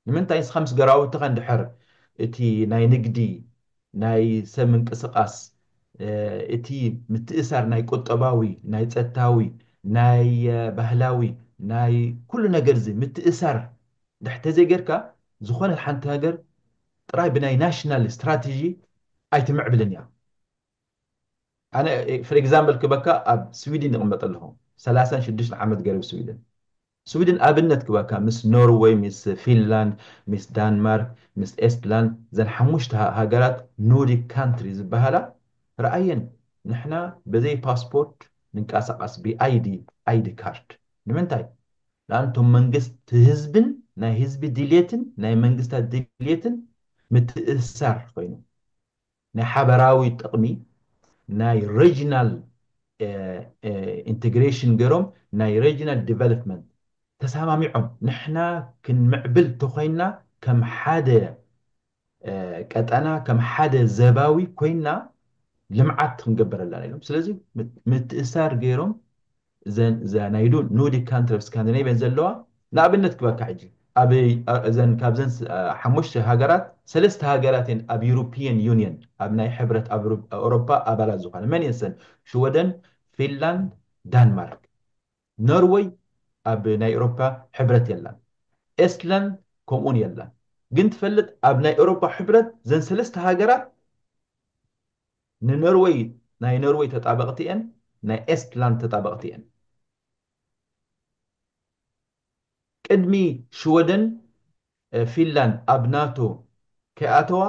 ንምንታይ ንስኻ ምስ ገራውትኻ እንድሕር እቲ ናይ ንግዲ ናይ ሰብ ምንቅስቃስ እቲ ምትእሳር ናይ ቁጠባዊ ናይ ጸጥታዊ ናይ ባህላዊ ናይ ኩሉ ነገር እዚ ምትእሳር እንድሕር ተዘይገርካ ዝኾነት ሓንቲ ሃገር ጥራይ ብናይ ናሽናል ስትራተጂ ኣይትምዕብልን እያ። ኣነ ፍር ኤግዛምበል ክበካ ኣብ ስዊድን ይቕመጥ ኣለኹ ሰላሳን ሽዱሽተን ዓመት ገሩ ስዊድን ስዊድን ኣብነት ክበካ ምስ ኖርወይ ምስ ፊንላንድ ምስ ዳንማርክ ምስ ኤስትላንድ ዘን ሓሙሽተ ሃገራት ኖርዲክ ካንትሪ ዝበሃላ ረኣየን ንሕና በዘይ ፓስፖርት ንንቀሳቐስ ብኣይዲ ኣይዲ ካርድ ንምንታይ ለኣን እቶም መንግስቲ ህዝብን ናይ ህዝቢ ድልየትን ናይ መንግስታት ድልየትን ምትእስሳር ኾይኑ ናይ ሓበራዊ ጥቕሚ ናይ ረጅናል ኢንተግሬሽን ገይሮም ናይ ረጅናል ዲቨሎፕመንት ተሳማሚዖም ንሕና ክንምዕብል ተኾይንና ከም ሓደ ቀጠና ከም ሓደ ዘባዊ ኮይና ልምዓት ክንገበረላ ኢሎም ስለዚ ምትእሳር ገይሮም እዘን እዛ ናይ ኖርዲክ ካንትሪ ስካንዲናቪያን ዘለዋ ንኣብነት ክበካ ሕጂ ኣብ እዘን ካብዘን ሓሙሽተ ሃገራት ሰለስተ ሃገራት እየን ኣብ ዩሮፒያን ዩኒየን ኣብ ናይ ሕብረት ኣብ ኣውሮፓ ኣባላት ዝኾነ መን እየን ሰን ሽወደን ፊንላንድ ዳንማርክ ኖርወይ ኣብ ናይ ኤሮፓ ሕብረት የላን ኤስትላንድ ከምኡውን የላን ግን ትፈልጥ ኣብ ናይ ኤሮፓ ሕብረት ዘን ሰለስተ ሃገራት ንኖርወይ ናይ ኖርወይ ተጣበቅቲ እየን ናይ ኤስትላንድ ተጣበቅቲ እየን ቅድሚ ሽወደን ፊንላንድ ኣብ ናቶ ከይኣተዋ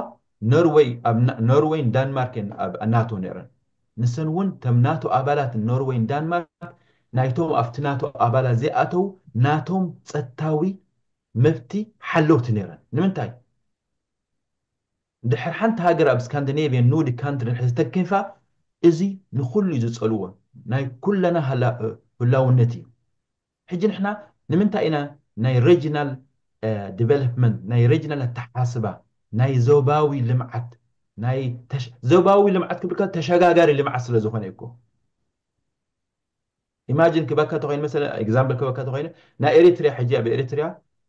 ኖርወይ ኣብ ኖርወይን ዳንማርክ እየን ኣብ ናቶ ነይረን ንሰን እውን ከም ናቶ ኣባላት ኖርወይን ዳንማርክ ናይቶም ኣብቲ ናቶ ኣባላት ዘይኣተዉ ናቶም ጸጥታዊ መብቲ ሓለውቲ ነይረን ንምንታይ ድሕር ሓንቲ ሃገር ኣብ ስካንዲኔቭየን ኖርዲክ ካንትሪ ድሕር ዝተከንፋ እዚ ንኩሉ እዩ ዝጸልዎ ናይ ኩለና ህላውነት እዩ ሕጂ ንሕና ንምንታይ ኢና ናይ ረጅናል ድቨለፕመንት፣ ናይ ረጅናል ኣተሓሳስባ፣ ናይ ዞባዊ ልምዓት፣ ናይ ዞባዊ ልምዓት ክብል ከሎ ተሸጋጋሪ ልምዓት ስለ ዝኾነ እዩኮ። ኢማጅን ክበካ ተኾይኑ መሰለ ኤግዛምፕል ክበካ ተኾይኑ ናይ ኤሪትሪያ ሕጂ ኣብ ኤሪትሪያ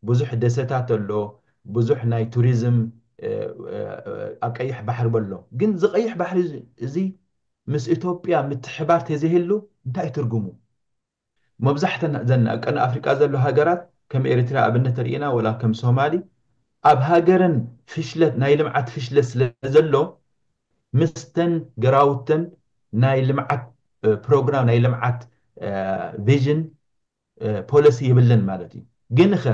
ብዙሕ ደሰታት ኣሎ ብዙሕ ናይ ቱሪዝም ኣብ ቀይሕ ባሕሪ በሎ ግን እዚ ቀይሕ ባሕሪ እዚ ምስ ኢትዮጵያ ምትሕባር ተዘይህሉ እንታይ ትርጉሙ መብዛሕተን ዘን ኣብ ቀርኒ ኣፍሪቃ ዘሎ ሃገራት ከም ኤሪትሪያ ኣብነት ተሪኢና ወላ ከም ሶማሊ ኣብ ሃገረን ፍሽለት ናይ ልምዓት ፍሽለት ስለ ዘሎ ምስተን ገራውተን ናይ ልምዓት ፕሮግራም ናይ ልምዓት ቪዥን ፖለሲ የብለን ማለት እዩ ግንኸ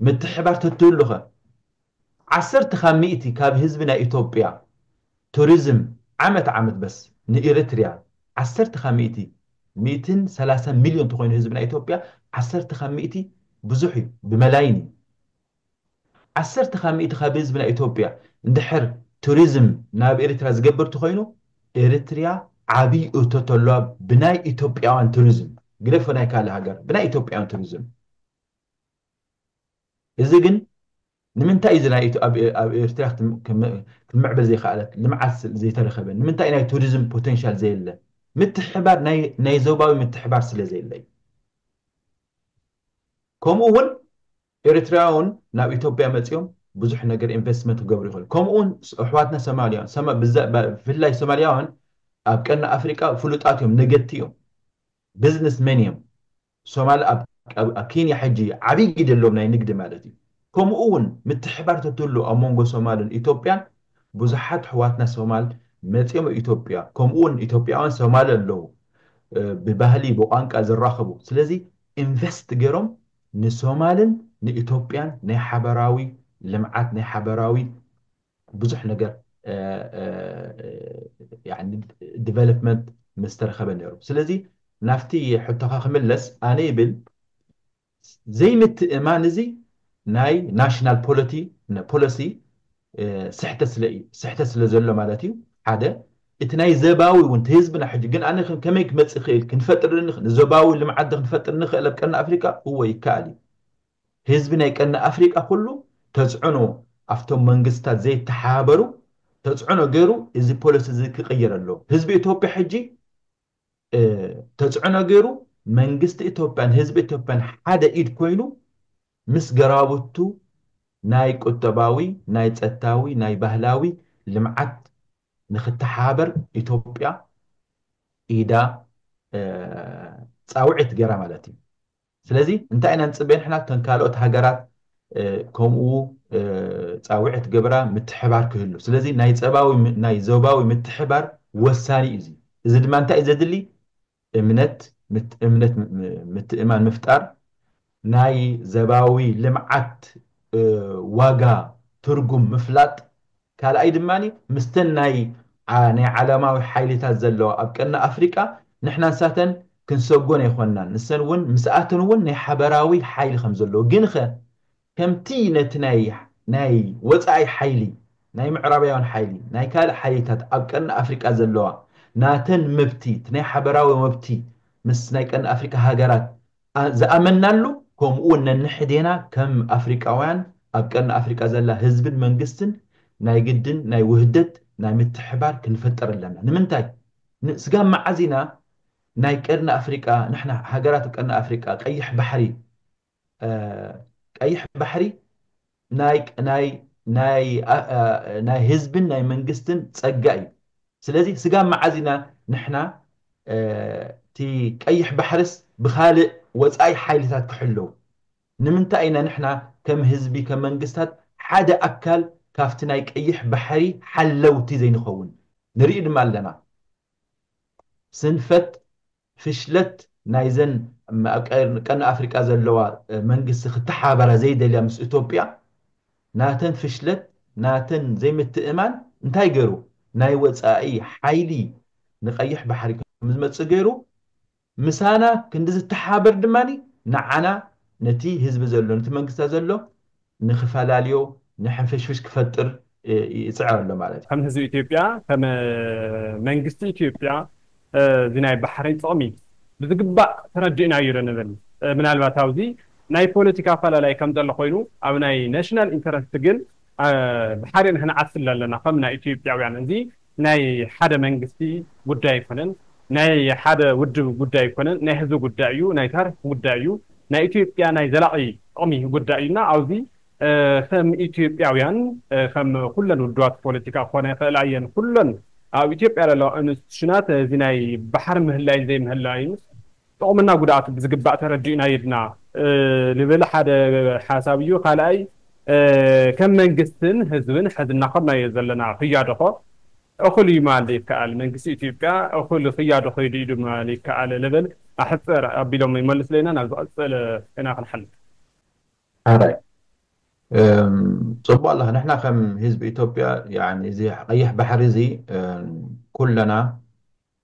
ምትሕባር ተትህሉኸ ዓሰርተ ካብ ሚእቲ ካብ ህዝቢ ናይ ኢቶጵያ ቱሪዝም ዓመት ዓመት በስ ንኢሪትሪያ ዓሰርተ ካብ ሚእቲ ሚእትን ሰላሳን ሚልዮን ተኾይኑ ህዝቢ ናይ ኢቶጵያ ዓሰርተ ካብ ሚእቲ ብዙሕ እዩ ብመላይን እዩ ዓሰርተ ካብ ሚእቲ ካብ ህዝቢ ናይ ኢቶጵያ እንድሕር ቱሪዝም ናብ ኢሪትራ ዝገብር ተኾይኑ ኢሪትሪያ ዓብይ እቶት ኣለዋ ብናይ ኢቶጵያውያን ቱሪዝም ግደፎ ናይ ካልእ ሃገር ብናይ ኢቶጵያውያን ቱሪዝም። እዚ ግን ንምንታይ እዚ ናይ ኣብ ኤርትራ ክምዕብል ዘይከኣለት ልምዓት ዘይተረከበ ንምንታይ ናይ ቱሪዝም ፖተንሻል ዘየለ ምትሕብባር ናይ ዞባዊ ምትሕብባር ስለ ዘየለ እዩ ከምኡ እውን ኤርትራውን ናብ ኢትዮጵያ መፅኦም ብዙሕ ነገር ኢንቨስትመንት ክገብሩ ይኽእሉ ከምኡ እውን ኣሕዋትና ሶማልያውን ብፍላይ ሶማልያውን ኣብ ቀርኒ ኣፍሪቃ ፍሉጣት እዮም ነገድቲ እዮም ቢዝነስ መን እዮም ሶማል ኣብ ኣብ ኬንያ ሕጂ ዓቢ ግደ ኣሎም ናይ ንግዲ ማለት እዩ ከሙኡ ውን ምትሕባር ተትህሉ ኣብ መንጎ ሶማልን ኢቶጵያን ቡዙሓት ኣሕዋትና ሶማል መጽዮም ኢቶጵያ ከሙኡ ውን ኢቶጵያውያን ሶማል ኣለው ብባህሊ ብቋንቃ ዝራከቡ ስለዚ ኢንቨስት ገሮም ንሶማልን ንኢቶጵያን ናይ ሓበራዊ ልምዓት ናይ ሓበራዊ ብዙሕ ነገር ዲቨሎፕመንት ምስ ተረኸበ ነይሩ። ስለዚ ናብቲ ሕቶኻ ክምለስ ኣነ ይብል ዘይምትእማን እዚ ናይ ናሽናል ፖለቲ ፖለሲ ስሕተት ስለ እዩ ስሕተት ስለ ዘሎ ማለት እዩ ሓደ እቲ ናይ ዘባዊ እውን እቲ ህዝብና ሕጂ ግን ኣነ ከመይ ክመፅእ ይኽእል ክንፈጥር ንዞባዊ ልምዓት ክንፈጥር ንኽእል ኣብ ቀርኒ ኣፍሪቃ እወ ይከኣል እዩ ህዝቢ ናይ ቀርኒ ኣፍሪቃ ኩሉ ተጽዕኖ ኣፍቶም መንግስታት ዘይተሓባበሩ ተጽዕኖ ጌሩ እዚ ፖለሲ እዚ ክቅይር ኣለዎ ህዝቢ ኢትዮጵያ ሕጂ ተጽዕኖ ጌሩ መንግስቲ ኢትዮጵያን ህዝቢ ኢትዮጵያን ሓደ ኢድ ኮይኑ ምስ ገራቡቱ ናይ ቁጠባዊ ናይ ጸታዊ ናይ ባህላዊ ልምዓት ንክተሓባበር ኢትዮጵያ ኢዳ ጻውዒት ጌራ ማለት እዩ። ስለዚ እንታይ ኢና ንጽበ ንሕና እተን ካልኦት ሃገራት ከምኡ ጻውዒት ክገብራ ምትሕባር ክህሉ ስለዚ ናይ ጸባዊ ናይ ዞባዊ ምትሕባር ወሳኒ እዩ እዚ እዚ ድማ እንታይ እዩ ዘድሊ እምነት እምነት ምትእማን ምፍጣር ናይ ዘባዊ ልምዓት ዋጋ ትርጉም ምፍላጥ ካልኣይ ድማ ምስተን ናይ ናይ ዓለማዊ ሓይሊታት ዘለዋ ኣብ ቀርኒ ኣፍሪቃ ንሕና ንሳተን ክንሰጎን ኣይኮናን ንሰን እውን ምስኣተን እውን ናይ ሓበራዊ ሓይሊ ከም ዘለዎ ግንኸ ከምቲ ነቲ ናይ ናይ ወጻኢ ሓይሊ ናይ ምዕራባውያን ሓይሊ ናይ ካልእ ሓይሊታት ኣብ ቀርኒ ኣፍሪቃ ዘለዋ ናተን መብቲ እቲ ናይ ሓበራዊ መብቲ ምስ ናይ ቀርኒ ኣፍሪቃ ሃገራት ዝኣመንናሉ ከምኡ ውን ነንሕዴና ከም ኣፍሪቃውያን ኣብ ቀርኒ ኣፍሪቃ ዘላ ህዝብን መንግስትን ናይ ግድን ናይ ውህደት ናይ ምትሕብባር ክንፈጥር ኣለና ንምንታይ ን ስጋብ መዓዝ ኢና ናይ ቀርኒ ኣፍሪቃ ንሕና ሃገራት ቀርኒ ኣፍሪቃ ቀይሕ ባሕሪ ቀይሕ ባሕሪ ናይ ህዝብን ናይ መንግስትን ጸጋ እዩ። ስለዚ ስጋብ መዓዝ ኢና ንሕና እቲ ቀይሕ ባሕርስ ብኻልእ ወጻኢ ሓይልታት ክሕለው? ንምንታይ ኢና ንሕና ከም ህዝቢ ከም መንግስታት ሓደ ኣካል ካብቲ ናይ ቀይሕ ባሕሪ ሓለውቲ ዘይንኸውን? ንርኢ ድማ ኣለና። ስንፈት ፍሽለት ናይዘን ኣብ ቀርኒ ኣፍሪቃ ዘለዋ መንግስቲ ክተሓባበራ ዘይደልያ ምስ እቶጵያ ናተን ፍሽለት ናተን ዘይምትእምማን እንታይ ገሩ ናይ ወጻኢ ሓይሊ ንቀይሕ ባሕሪ ከምዝመጽእ ገሩ ምሳና ክንዲ ዝተሓባበር ድማ ንዓና ነቲ ህዝቢ ዘሎ ነቲ መንግስታ ዘሎ ንክፈላልዮ ንሕንፍሽፍሽ ክፈጥር ይጽዕር ኣሎ ማለት እዩ። ከም ህዝቢ ኢትዮጵያ ከም መንግስቲ ኢትዮጵያ እዚ ናይ ባሕሪ ጥቕሚ ብዝግባእ ተረዲእናዮ ዶ ንብል? ምናልባት ኣብዚ ናይ ፖለቲካ ኣፈላላይ ከም ዘሎ ኮይኑ ኣብ ናይ ናሽናል ኢንተረስት ግን ብሓደ ንሕና ዓስለ ኣለና ከም ናይ ኢትዮጵያውያን እዚ ናይ ሓደ መንግስቲ ጉዳይ ኣይኮነን፣ ናይ ሓደ ውድብ ጉዳይ ኣይኮነን፣ ናይ ህዝቢ ጉዳይ እዩ፣ ናይ ታሪኽ ጉዳይ እዩ፣ ናይ ኢትዮጵያ ናይ ዘላቒ ጥቕሚ ጉዳይ እዩ እና ኣብዚ ከም ኢትዮጵያውያን ከም ኩለን ውድባት ፖለቲካ ክኾና ይኽእላ እየን፣ ኩለን ኣብ ኢትዮጵያ ዘለዋ ኢንስቲቱሽናት እዚ ናይ ባሕሪ ምህላይን ዘይምህላይንስ፣ ጥቕምና ጉድኣቱ ብዝግባእ ተረዲእና የድና ልብል ሓደ ሓሳብ እዩ። ካልኣይ ከም መንግስትን ህዝብን ሕዚ እናኸድናዮ ዘለና ክያዶኾ እኹል እዩ ምባል ዘይከኣል፣ መንግስቲ ኢትዮጵያ እኹል ክያዶ ከይዱ ኢሉ ምባል ይከኣል ልብል ኣሕጽር ኣቢሎም ይመልሱለይና ናብ ዝቕጽል ኢና ክንሓልፍ። ሐራይ ጽቡቅ ኣለኻ ንሕና ከም ህዝቢ ኢትዮጵያ ያኒ እዚ ቀይሕ ባሕሪ እዚ ኩለና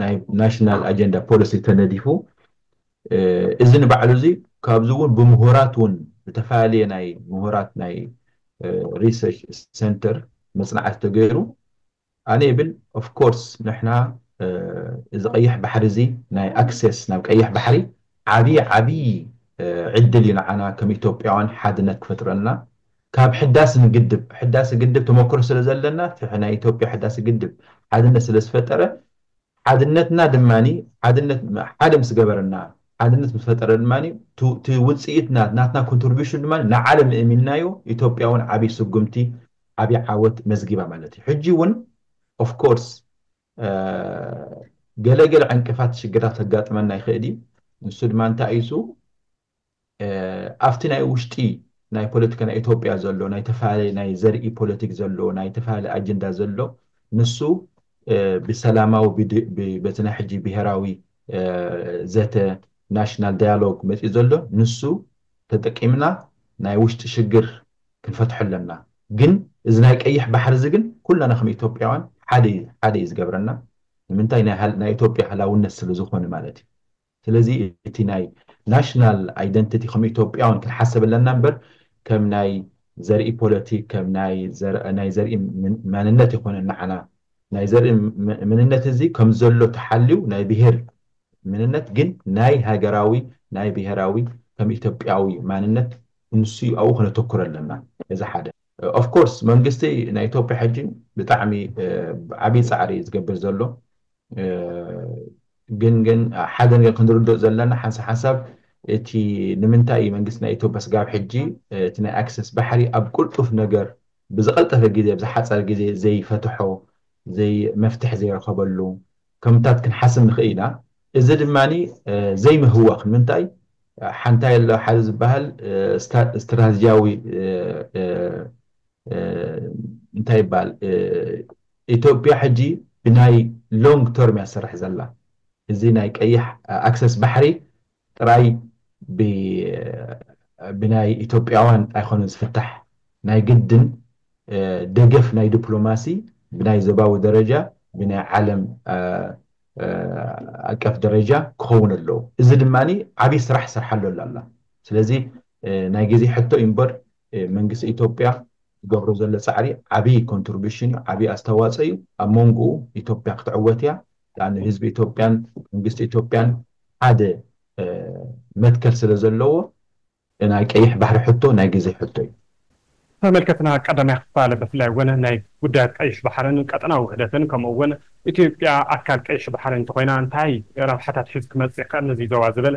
ናይ ናሽናል ኣጀንዳ ፖሊሲ ተነዲፉ እዚ ንባዕሉ እዚ ካብዚ እውን ብምሁራት እውን ዝተፈላለየ ናይ ምሁራት ናይ ሪሰርች ሰንተር መፅናዕቲ ተገይሩ ኣነ ይብል ኦፍኮርስ ንሕና እዚ ቀይሕ ባሕሪ እዚ ናይ ኣክሴስ ናብ ቀይሕ ባሕሪ ዓብዪ ዓብዪ ዕድል እዩ ንዓና ከም ኢትዮጵያውያን ሓድነት ክፈጥረልና ካብ ሕዳስ ንግድብ ሕዳሰ ግድብ ተሞክሮ ስለ ዘለና እቲ ናይ ኢትዮጵያ ሕዳሰ ግድብ ሓድነት ስለ ዝፈጠረ ሓድነትና ድማ ሓድነት ሓደ ምስ ገበረና ሓድነት ምስ ፈጠረ ድማ እቲ ውፅኢት ናትና ኮንትሪቢሽን ድማ ንዓለም እእሚንናዮ ኢትዮጵያ እውን ዓብይ ስጉምቲ ዓብይ ዓወት መዝጊባ ማለት እዩ ሕጂ እውን ኦፍ ኮርስ ገለ ገለ ዕንቅፋት ሽግራት ከጋጥመና ይኽእል እዩ ንሱ ድማ እንታይ እዩ እሱ ኣብቲ ናይ ውሽጢ ናይ ፖለቲካ ናይ ኢትዮጵያ ዘሎ ናይ ተፈላለየ ናይ ዘርኢ ፖለቲክ ዘሎ ናይ ተፈላለየ ኣጀንዳ ዘሎ ንሱ ብሰላማዊ በቲ ናይ ሕጂ ብሄራዊ ዘተ ናሽናል ዳያሎግ መፂኡ ዘሎ ንሱ ተጠቂምና ናይ ውሽጢ ሽግር ክንፈትሖ ኣለና ግን እዚ ናይ ቀይሕ ባሕሪ እዚ ግን ኩላና ከም ኢትዮጵያውያን ሓደ እዩ ዝገብረና ንምንታይ ናይ ኢትዮጵያ ሃላውነት ስለዝኾነ ማለት እዩ ስለዚ እቲ ናይ ናሽናል ኣይደንቲቲ ከም ኢትዮጵያውን ክንሓሰብ ኣለና እምበር ከም ናይ ዘርኢ ፖለቲክ ከም ናይ ናይ ዘርኢ መንነት ኣይኮነን ንዓና ናይ ዘርኢ ምንነት እዚ ከም ዘሎ ተሓልዩ ናይ ብሄር ምንነት ግን ናይ ሃገራዊ ናይ ብሄራዊ ከም ኢትዮጵያዊ ማንነት ንሱ እዩ ኣብኡ ክነተኩር ኣለና እዚ ሓደ ኦፍ ኮርስ መንግስቲ ናይ ኢትዮጵያ ሕጂ ብጣዕሚ ዓብይ ጻዕሪ እዩ ዝገብር ዘሎ ግን ግን ሓደ ነገር ክንርድኦ ዘለና ሓንሳ ሓሳብ እቲ ንምንታይ እዩ መንግስቲ ናይ ኢትዮጵያ ስጋብ ሕጂ እቲ ናይ ኣክሰስ ባሕሪ ኣብ ቁልጡፍ ነገር ብዝቐልጠፈ ግዜ ብዝሓፀረ ግዜ ዘይፈትሖ ዘይ መፍትሒ ዘይረኸበሉ ከምታት ክንሓስብ ንኽእል ኢና እዚ ድማ ዘይምህዋኽ ንምንታይ ሓንታይ ኣሎ ሓደ ዝበሃል ስትራቴጂያዊ እንታይ ይበሃል ኢትዮጵያ ሕጂ ብናይ ሎንግ ተርም እያ ትሰርሕ ዘላ እዚ ናይ ቀይሕ ኣክሰስ ባሕሪ ጥራይ ብ ብናይ ኢትዮጵያውያን ኣይኮነን ዝፍታሕ ናይ ግድን ደገፍ ናይ ድፕሎማሲ ብናይ ዞባዊ ደረጃ ብናይ ዓለም ኣቀፍ ደረጃ ክኸውን ኣለዎ እዚ ድማ ዓብይ ስራሕ ትሰርሓሉ ኣላ ስለዚ ናይ ግዜ ሕቶ እዩ እምበር መንግስቲ ኢትዮጵያ ዝገብሮ ዘሎ ጻዕሪ ዓብይ ኮንትርቡሽን እዩ ዓብይ ኣስተዋጽኦ እዩ ኣብ መንጉኡ ኢትዮጵያ ክትዕወት እያ ዳኣኒ ህዝቢ ኢትዮጵያን መንግስቲ ኢትዮጵያን ሓደ መትከል ስለ ዘለዎ ናይ ቀይሕ ባሕሪ ሕቶ ናይ ግዜ ሕቶ እዩ። ተመልከትና ቀዳማይ ክፋል ብፍላይ እውን ናይ ጉዳያት ቀይሕ ባሕርን ቀጠናዊ ውህደትን ከምኡ እውን ኢትዮጵያ ኣካል ቀይሕ ባሕሪ እንተኾይና እንታይ ረብሓታት ሒዙ ክመጽእ ይኽእል ንዚ ዞባ ዝብል